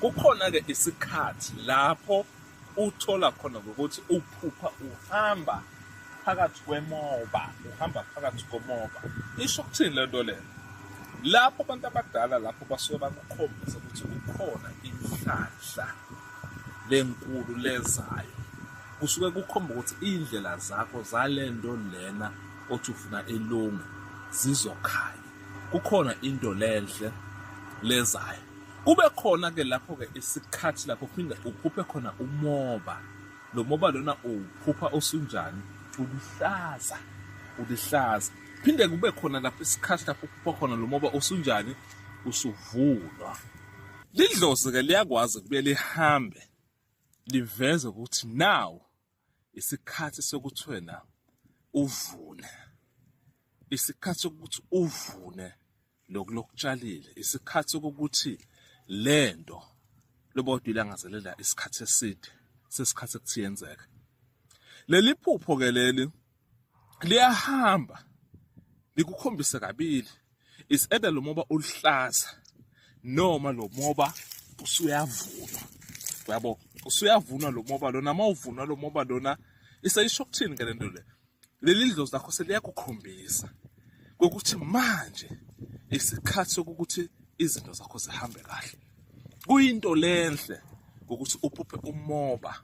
Kukhona-ke isikhathi lapho uthola khona ngokuthi uphupha uhamba phakathi kwemoba uhamba phakathi komoba isho ukuthini le nto leyo lapho abantu abadala lapho basuke bakukhombisa ukuthi kukhona inhlanhla lenkulu lezayo kusuke kukhomba ukuthi iy'ndlela zakho zale nto lena othi ufuna ilunge zizokhanya kukhona into lenhle lezayo Kube khona ke lapho ke isikhathi lapho phinde uphuphe khona umoba. Lo moba lona uphupha osunjani? Ulihlaza. Ulihlaza. Phinde kube khona lapho isikhathi lapho uphupha khona lo moba osunjani? Usuvunwa. Lidlozi ke liyakwazi kubuye lihambe liveze ukuthi nawo isikhathi sokuthi wena uvune isikhathi sokuthi uvune lokhu lokutshalile isikhathi sokuthi lento lobodwa ilangazelela isikhathi eside sesikhathi ekuthi yenzeke leli phupho ke leli liyahamba likukhombise kabili is either lo moba uluhlaza noma lo moba usuyavunwa yabo usuyavunwa lo moba lona uma uvunwa lo moba lona isayisho kuthini ke lento le leli dlozi lakho seliyakukhombisa kokuthi manje isikhathi sokuthi izinto zakho zihambe kahle kuyinto lenhle ukuthi uphuphe umoba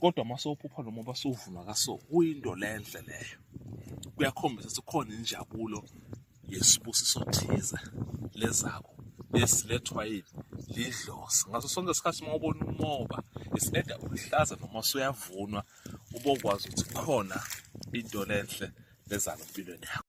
kodwa uma sophupha noma uba sovuma kaso kuyinto lenhle leyo kuyakhombisa ukuthi khona injabulo yesibusiso thize lezako esilethwa yini lidlozi ngaso sonke isikhathi uma ubona umoba isileda uluhlaza noma usuyavunwa ubokwazi ukuthi khona into lenhle lezalo empilweni yakho